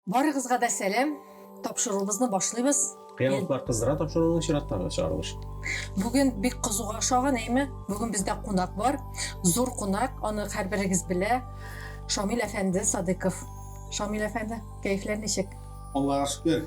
Барыгызга да сәлам. Тапшыруыбызны башлыйбыз. Кыялыклар кыздыра тапшыруның чираттагы чыгарылыш. Бүген бик кызуга ошаган, әйме? Бүген бездә кунак бар. Зур кунак, аны һәрберегез белә. Шамил әфәнде Садыков. Шамил әфәнде, кәефләр ничек? Аллага шөкер.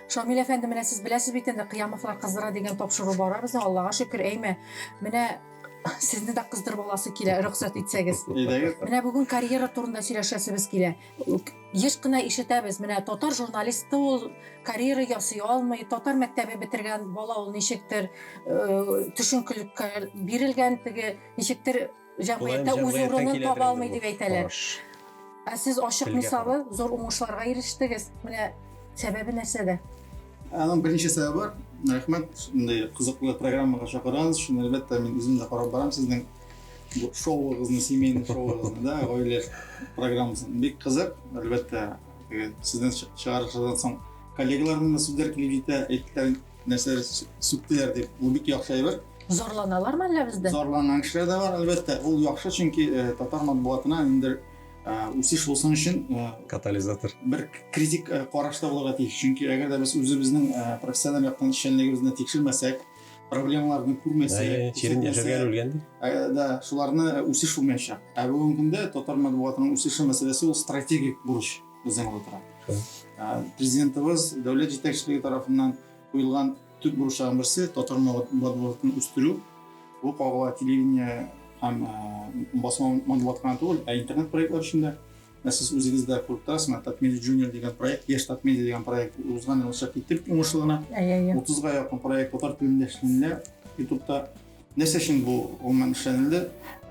Шамил әфәнде, менә сез беләсез бит инде, Кыямовлар кыздыра дигән тапшыру бара безнең, Аллага шөкер, әйме? Менә сезне дә кыздырып аласы килә, рөхсәт итсәгез. Әйдәгез. Менә бүген карьера турында сөйләшәсебез килә. Еш кына ишетәбез, менә татар журналисты ул карьера ясый алмый, татар мәктәбе бетергән бала ул ничектер э, төшенкелеккә бирелгән теге ничектер җәмгыятьтә үз урынын таба алмый дип әйтәләр. Ә сез ачык мисалы зур уңышларга ирештегез. Менә сәбәбе нәрсәдә? Аның беренче сәбәбе бар. Рәхмәт, шундый кызыклы программага чакырган өчен. Әлбәттә, мин үзем дә карап барам сезнең шоуыгызны семейный шоуыгызны да гаилә программасын бик кызык әлбәттә сездән чыгарышыдан соң коллегаларның да сүзләр килеп җитә әйттеләр нәрсәләр сүктеләр дип бу бик яхшы әйбер зарланалармы әллә бездән зарланган кешеләр дә бар әлбәттә ул яхшы чөнки татар матбугатына ниндидер үсеш булсын өчен катализатор бер критик карашта булырга тиеш чөнки әгәр дә без үзебезнең профессиональ яктан эшчәнлегебезне тикшермәсәк проблемаларны күрмәсә чирен яшәргә үлгән да шуларны үсеш булмаячак ә бүгенге көндә татар матбугатының үсеше мәсьәләсе ул стратегик бурыч безнең алда тора президентыбыз дәүләт җитәкчелеге тарафыннан куелган төп бурычларның берсе татар матбугатын үстерү бу кагыла телевидение һәм басма матбугат кына түгел ә интернет проектлар өчен дә Ә сез үзегез дә күреп торасыз, менә Татмедиа Junior дигән проект, Яшь Татмедиа дигән проект узган ел чыгып китте бит уңышлы гына. Әйе, әйе. 30-га якын проект татар телендә эшләнелә Ютубта. Нәрсә өчен бу гомумән эшләнелде?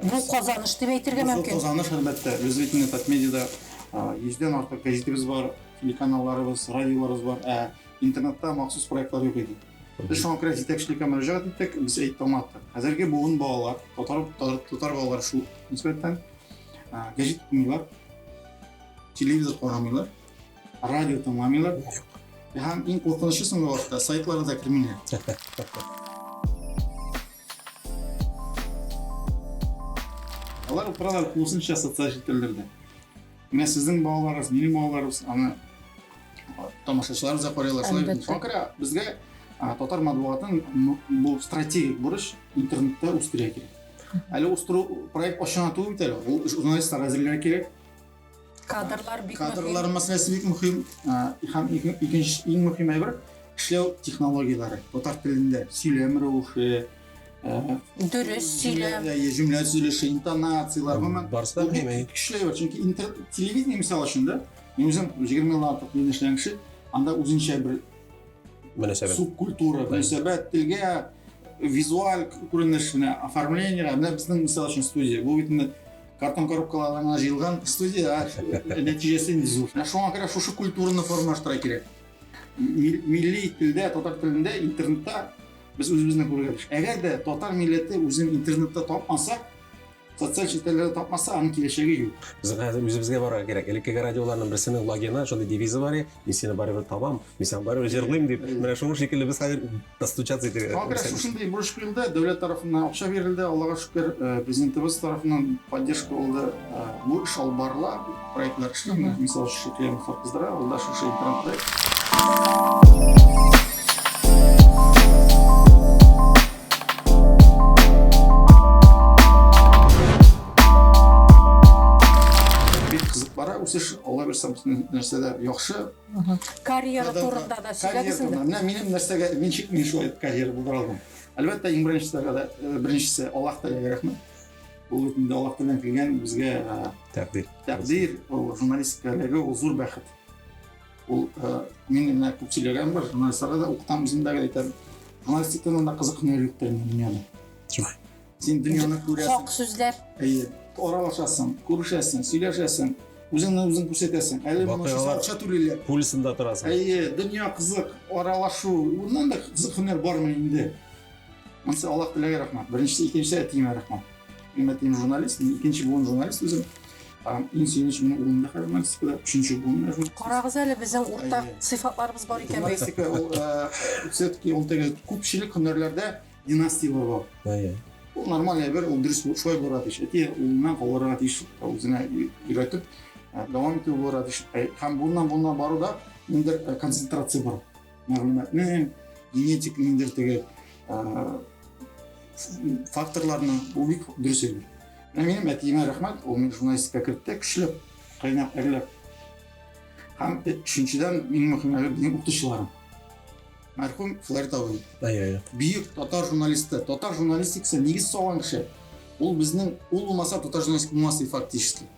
Бу казаныш дип әйтергә мөмкин. Бу казаныш, әлбәттә. Без бит инде Татмедиада 100-дән артык гәҗитебез бар, телеканалларыбыз, радиоларыбыз бар, ә интернетта махсус проектлар юк иде. Без шуңа күрә җитәкчелеккә мөрәҗәгать иттек, без әйтте аңлаттык. Хәзерге буын балалар, татар балалары шул нисбәттән, гәҗит укымыйлар телевизор карамыйлар радио тыңламыйлар һәм иң куркынычы соңгы вакытта сайтларга да кермиләр алар утыралар тулысынча социаль челтәрләрдә менә сезнең балаларыгыз минем балаларыбыз аны тамашачылар да карыйлар шулай бит шуңа күрә безгә татар матбугатын бу стратегик бурыч интернетта үстерә кирәк Әле устыру проект ашына түгел бит әле. Ул журналистлар әзерләргә кирәк. Кадрлар бик мөһим. Кадрлар мәсьәләсе бик мөһим. Һәм икенче иң мөһим әйбер эшләү технологияләре. Татар телендә сөйләм рәвеше, дөрес сөйләм җөмлә төзелеше интонацияләр гомумән барысы көчле бар чөнки интернет телевидение мисал өчен да мин үзем егерме елдан артык мин эшләгән кеше анда үзенчә бер мөнәсәбәт. Субкультура, мөнәсәбәт, телгә, визуаль күренеш, менә оформление, менә безнең мисал өчен студия. Бу бит инде картон коробкалардан гына җыелган студия, нәтиҗәсе инде зур. Шуңа күрә шушы культураны формалаштыра кирәк. Милли телдә, татар телендә, интернетта без үзебезне күрергә тиеш. Әгәр дә татар милләте үзен интернетта тапмаса, социаль челтәрләрдә тапмаса, аның киләчәге юк. Без хәзер үзебезгә барырга кирәк. Элеккеге радиоларның берсенең логины, шундый девизы бар иде, мин сине барыбер табам, мин сиңа барыбер җырлыйм дип. Менә шуның шикелле без хәзер достучаться итәргә. Шуңа күрә шушындый бурыч куелды, дәүләт тарафыннан акча бирелде, Аллага шөкер, э, президентыбыз тарафыннан поддержка булды. Э, бу эш алып барыла. Проектына кешеләр, менә мисал өчен Шөкеем Хатбыздыра, ул да шушы интернет проект. Бик кызык бара, үсеш, Алла бирсә, бөтен нәрсә дә яхшы. Карьера турында да сөйләгез инде. Менә минем нәрсәгә мин шик мин шулай карьера булдыра алдым. Әлбәттә, иң беренчесе, беренчесе Аллаһ Тәгаләгә рәхмәт. Ул бит инде Аллаһ Тәгаләнең килгән безгә тәкъдир. Тәкъдир, ул журналистикадагы ул зур бәхет. Ул мин менә күп сөйләгән бар, журналистларга да укытамыз инде әйтәм. Журналистикадан да кызыкны юктыр дөньяда. Юк. Син дөньяны күрәсең. Хак сүзләр. Әйе. Аралашасың, күрешәсең, сөйләшәсең. Үзеңне үзең күрсәтәсең. Әле моңа акча түлиләр. Пульсында торасың. Әйе, дөнья кызык, аралашу. Моннан да кызык һөнәр бармы инде? Монысы Аллаһ теләге рәхмәт. Беренчесе, икенчесе әтиемә рәхмәт. Минем әтием журналист, мин икенче буын журналист үзем. Иң сөенеч минем улым да хәзер журналистикада, өченче буын журналист. Карагыз әле, безнең уртак сыйфатларыбыз бар икән бит. Журналистика ул все-таки ул теге күпчелек һөнәрләрдә династияләр бар. Әйе. Ул нормаль әйбер, ул дөрес булып шулай булырга тиеш. Әти улыннан калырга тиеш, үзенә өйрәтеп дәвам итү булырга тиеш. Һәм буыннан буынга баруда ниндидер концентрация бар. мәгълүматны генетик ниндер теге факторларны ул бик дөрес әйбер менә минем әтиемә рәхмәт ул мине журналистикага кертте көчләп кайнап әрләп һәм өченчедән иң мөһиме минем укытучыларым мәрхүм флорид абый бөек татар журналисты татар журналистикасы нигез салган кеше ул безнең ул булмаса татар журналистика булмас фактически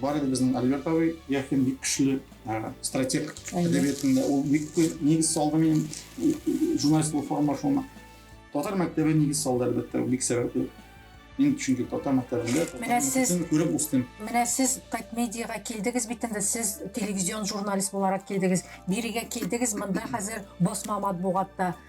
Бар иде безнең Альберт абый, Яхин бик көчле стратег әдәбиятында. Ул бик күп нигез салды минем журналист булу форма шуны. Татар мәктәбе нигез салды әлбәттә, бик сәбәпле. Мин чөнки татар мәктәбендә Менә сез күреп үстем. Менә сез Тайт медиага килдегез бит инде, сез телевизион журналист буларак килдегез. Бирегә килдегез, монда хәзер басма матбугатта.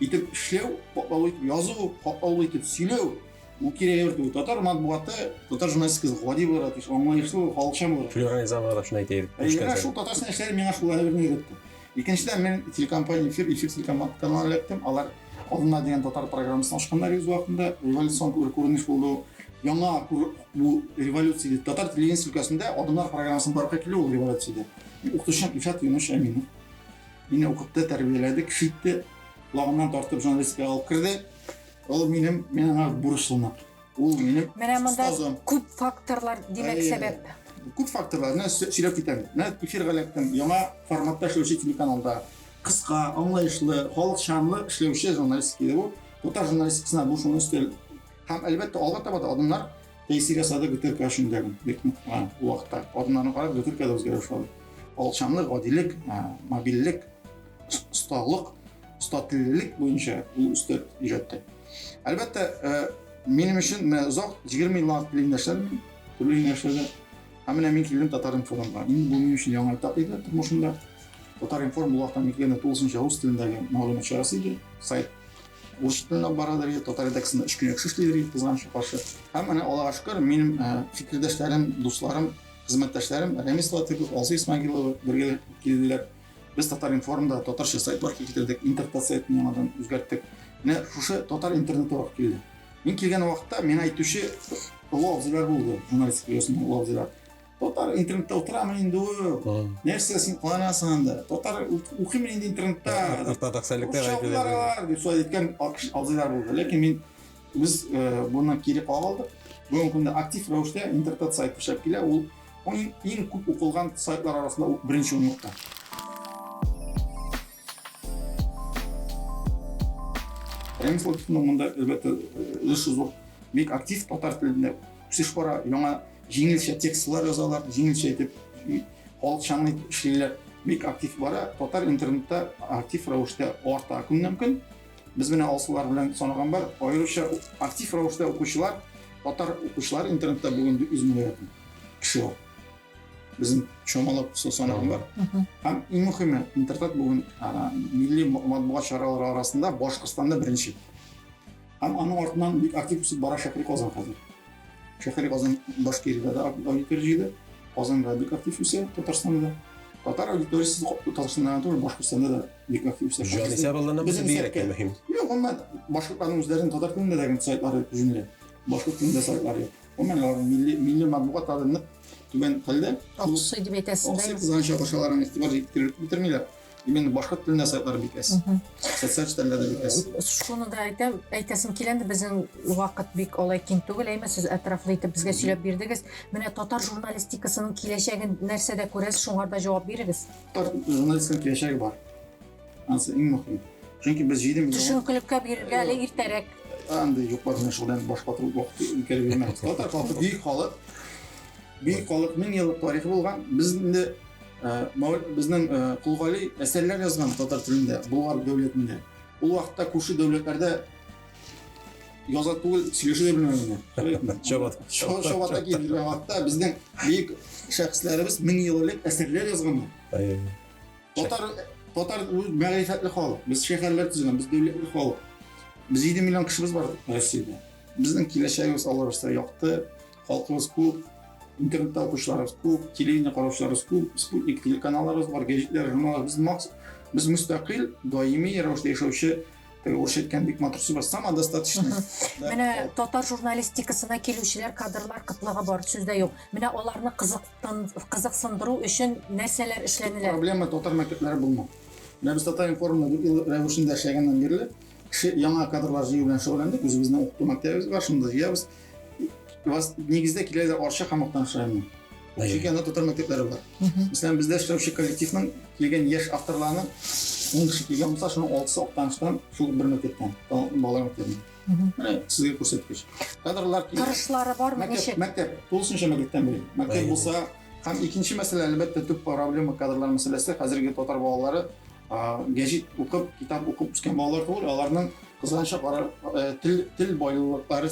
итеп эшләү, катлаулы итеп язу, катлаулы итеп сөйләү, бу кирәк йөртү. Татар матбугаты, татар журналистикасы гади буларак, аңлаешлы, халыкчан буларак. Флюра Изамова шуны әйтә идек. Әйе, шул татарстан эшләре миңа шул әле берне өйрәтте. Икенчедән, мин телекомпания эфир, эфир телеканалына эләктем. Алар алдына дигән татар программасын ачканнар үз вакытында. Революцион күренеш булды. Яңа бу революция дип татар телевидениесе өлкәсендә Адымнар программасының барлыкка килүе ул революция иде. Укытучым Ильшат Юнышев Әминов. Мине укытты, тәрбияләде, кеше итте. Колагымнан тартып журналистикага алып керде. Ул минем, мин аңа бурычлымын. Ул минем Менә монда остазым. күп факторлар, димәк, Әйе. сәбәп. Күп факторлар, менә сө- сөйләп китәм. Менә эфирга эләктем, яңа форматта эшләүче телеканалда. Кыска, аңлаешлы, халыкчанлы эшләүче журналистика иде бу. Татар журналистикасына бу шуны өстәл. Һәм, әлбәттә, алга таба да адымнар Тәйсирә сады бөтеркә өчен дә бик нык ул вакытта. Адымнарны карап, бөтеркә дә үзгәрә башлады. Алчанлык, гадилек, мобильлек, осталык, остатиллелек буенча ул өстәп өйрәтте. Әлбәттә, минем өчен менә озак 20 еллар арт телендәшләр, төрле юнәлешләрдә. Һәм менә мин килдем Татар информга. Инде бу минем өчен яңа этап иде тормышымда. Татар информ ул вакытта мин килгәндә тулысынча рус телендәге мәгълүмат чарасы иде. Сайт Урыс телендә алып баралар иде, татар редакциясендә өч көн яхшы эшлиләр иде, кызганычка каршы. Һәм менә Аллага шөкер, минем фикердәшләрем, дусларым, хезмәттәшләрем Рәмис Латыйпов, Алсу Исмәгыйлова бергә килделәр. Без Татар-информда татарча сайт барлыкка китердек, интертат-сайтны яңадан үзгәрттек. Менә шушы татар интернеты алып килде. Мин килгән вакытта миңа әйтүче олы абзыйлар булды, журналистика дөньясының олы абзыйлары. Татар интернетта утырамын инде ул. Нәрсә син кыланасың анда? Татар укыймын инде интернетта. Ортадагы сәлекләр әйтелә. Дип шулай әйткән абзыйлар булды. Ләкин мин без э, буннан кире кагылдык. Бүгенге көндә актив рәвештә интернет сайт эшләп килә. Ул иң күп укылган сайтлар арасында беренче урынлыкта. Рәмис Латыфовның монда, әлбәттә, өлеше зур. Бик актив татар телендә үсеш бара, яңа Җиңелчә текстлар язалар, җиңелчә итеп халыкчанлы итеп эшлиләр. Бик актив бара. Татар интернетта актив рәвештә арта көннән-көн. Без менә алсулар белән санаган бар. Аеруча актив рәвештә укучылар, татар укучылар интернетта бүген 400 мең рәт кеше бар. Безнең чамалап санаган бар. Һәм иң мөхиме, интернет бүген милли матбугат чаралары арасында Башкортстанда беренче. Һәм аның артыннан бик актив үсеп бара Шәһри Казан хәзер. Шәһри Казан Башкириядә дә аудитория җыйды. Казанда бик актив үсә, Татарстанда да. Татар аудиториясе Татарстанда да, Башкортстанда да бик актив үсә. Җанисәп алганда бу бигрәк тә мөһим. Юк, аннан башкортларның үзләренең татар телендә дә сайтлары җиңелрәк. Башкорт телендә сайтлары. Гомумән, аларның милли милли матбугатлары нык түбән хәлдә. Аксый дип әйтәсез. Аксый кызганча акчаларын игътибар җиткереп бетермиләр. Именно башка телендә сайтлар бик әз. Социаль челтәрләрдә бик әз. Шуны да әйтәм, әйтәсем килә инде безнең вакыт бик алай киң түгел, әйме сез әтрафлы итеп безгә сөйләп бирдегез. Менә татар журналистикасының киләчәген нәрсәдә күрәсез, шуңарда җавап бирегез. Татар журналистикасының киләчәге бар. Анысы иң мөһим. Чөнки без җиде миллион... Төшенкелеккә бирергә әле иртәрәк. Анда юклар менә шулдан баш катыру вакыты үткәреп йөрмәгез. Татар халкы бөек халык. Бөек халык мең еллык тарихы булган. Без инде безнең Кулгали әсәрләр язган татар телендә, Болгар дәүләтендә. Ул вакытта күрше дәүләтләрдә яза түгел, сөйләшә дә белмәгәннәр. Чабат. Чабата килгән вакытта безнең бөек шәхесләребез мең ел элек әсәрләр язганнар. Татар татар мәгърифәтле халык. Без шәһәрләр төзегән, без дәүләтле халык. Без 7 миллион кешебез бар Россиядә. Безнең киләчәгебез аларса якты, халкыбыз күп, интернетта укучыларыбыз күп, телевидение караучыларыбыз күп, спутник телеканалларыбыз бар, гәҗитләр, журналлар. Без макс, без мөстәкыйль, даими рәвештә яшәүче Урыс әйткән бик матур сүз сама достаточно. Менә татар журналистикасына килүчеләр, кадрлар кытлыгы бар, сүз дә юк. Менә аларны кызыктын, кызыксындыру өчен нәрсәләр эшләнелә? Проблема татар мәктәпләре булмау. Менә без татар информда дүрт ел рәвешендә эшләгәннән бирле кеше яңа кадрлар җыю белән шөгыльләндек. Үзебезнең укыту мәктәбебез бар, шунда җыябыз. вас нигездә киләләр Арча һәм Актан шәһәреннән. Чөнки анда татар мәктәпләре бар. Мәсәлән, бездә эшләүче коллективның килгән яшь авторларының ун кеше килгән булса, шуның алтысы Актаныштан шул бер мәктәптән, балалар мәктәбеннән. Менә сезгә күрсәткеч. Кадрлар килә. Торышлары бармы ничек? Мәктәп, тулысынча мәктәптән бери. Мәктәп булса, һәм икенче мәсьәлә, әлбәттә, төп проблема кадрлар мәсьәләсе. Хәзерге татар балалары Гәҗит укып, китап укып үскән балалар түгел, аларның кызганыча карар э, тел, тел байлыклары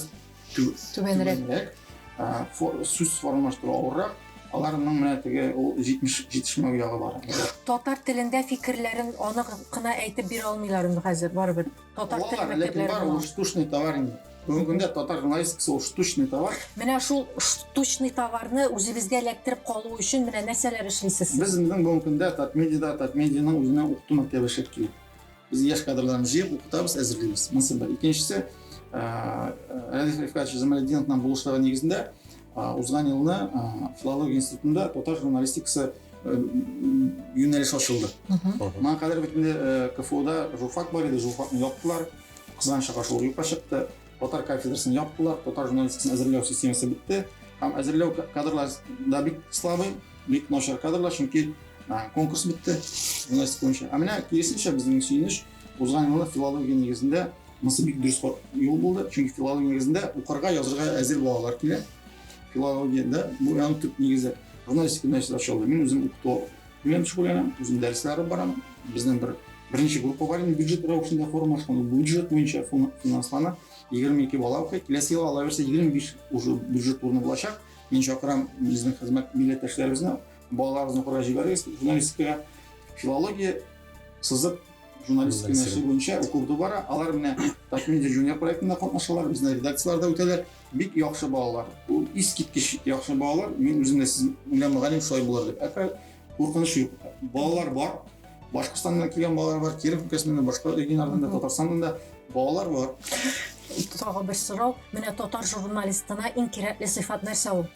түбәнрәк. Сүз формалаштыру авыррак, аларның менә теге ул җитешмәү ягы бар. Татар телендә фикерләрен анык кына әйтеп бирә алмыйлар инде хәзер барыбер. Татар теле Алар, ләкин мәктәпләре бар, була. ул штучный товар инде. Бүгенге көндә татар журналистикасы ул штучный товар. Менә шул штучный товарны үзебезгә эләктереп калу өчен менә нәрсәләр эшлисез? сез? Безнең бүгенге көндә Татмедиада Татмедианың үзенең укыту мәктәбе эшләп килә. Без яшь кадрларны җыеп укытабыз, әзерлибез. Монысы бер. Икенчесе, ә, Радик Рифкатович Замалетдиновның булышлыгы нигезендә Узган елны филология институтында татар журналистикасы юнәлеш ачылды. Моңа кадәр бит инде КФУда журфак бар иде, журфакны яптылар. Кызганыч аша шул юкка чыкты. Татар кафедрасын яптылар, татар журналистикасын әзерләү системасы бетте. Һәм әзерләү кадрлар да бик слабый, бик начар кадрлар, чөнки конкурс бетте журналистика буенча. Ә менә киресенчә безнең сөенеч, узган елны филология нигезендә Монысы бик дөрес юл булды, чөнки филология нигезендә укырга, язырга әзер балалар килә. Филологиядә бу яның төп нигезе. Журналистика нәрсә ачылды. Мин үзем укыту белән шөгыльләнәм, үзем дәресләре барам. Безнең бер беренче группа бар инде бюджет рәвешендә формалашкан, ул бюджет буенча финанслана. 22 бала укый. Киләсе ел ала берсе 25 уже бюджет урыны булачак. Мин чакырам безнең хезмәт милләттәшләребезне балаларыбызны укырга җибәрегез журналистикага. Филология сызык журналистика юнәлеше буенча укуды бара. Алар менә Touch Media Junior проектында катнашалар, безнең редакцияләрдә үтәләр. Бик яхшы балалар. Ул искиткеч яхшы балалар. Мин үзем дә сез белән мөгаллим шулай булыр дип. Әкрә куркыныч юк. Балалар бар. Башкортстаннан килгән балалар бар, Киров өлкәсеннән дә, башка регионнардан да, Татарстаннан да балалар бар. Тагы бер сорау. Менә татар журналистына иң кирәкле сыйфат нәрсә ул?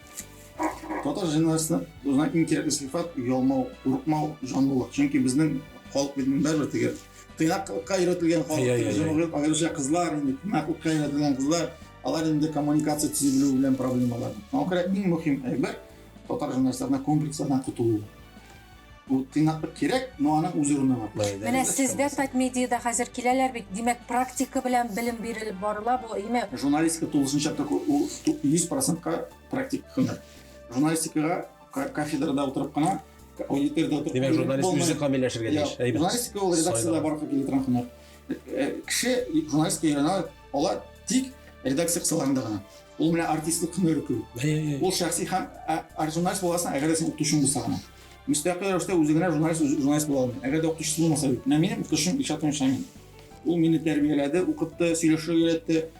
Татар җәнәсенә үзенә иң кирәкле сыйфат ялмау, курыкмау, җанлылык. Чөнки безнең халык бит бәрбер теге тыйнаклыкка өйрәтелгән халык, җәмгыять аеруча кызлар, инде тыйнаклыкка өйрәтелгән кызлар, алар инде коммуникация төзи белү белән проблемалар. Аңа күрә иң мөһим әйбер татар җәнәсенә комплекслардан котылу. Бу тыйнаклык кирәк, но аның үз урыны бар. Менә сездә Татмедиада хәзер киләләр бит, димәк, практика белән белем бирелеп барыла бу, әйеме? Журналистика тулысынча ул 100%-ка практик һөнәр. Журналистикага кафедрада утырып кына, аудиториядә утырып Димәк, журналист үзе камилләшергә тиеш. Әйбәт. Журналистика ул редакциядә барып килә торган һөнәр. Э, э, кеше журналистика өйрәнә ала тик редакция кысаларында гына. Ул менә артистлык һөнәре түгел. Ул шәхси һәм журналист буласың, әгәр дә син укытучы булса гына. Мөстәкыйль рәвештә үзе генә журналист журналист була алмый. Әгәр дә укытучысы булмаса бит. Менә минем укытучым Илшат Мишамин. Ул мине тәрбияләде, укытты, сөйләшергә өйрәтте.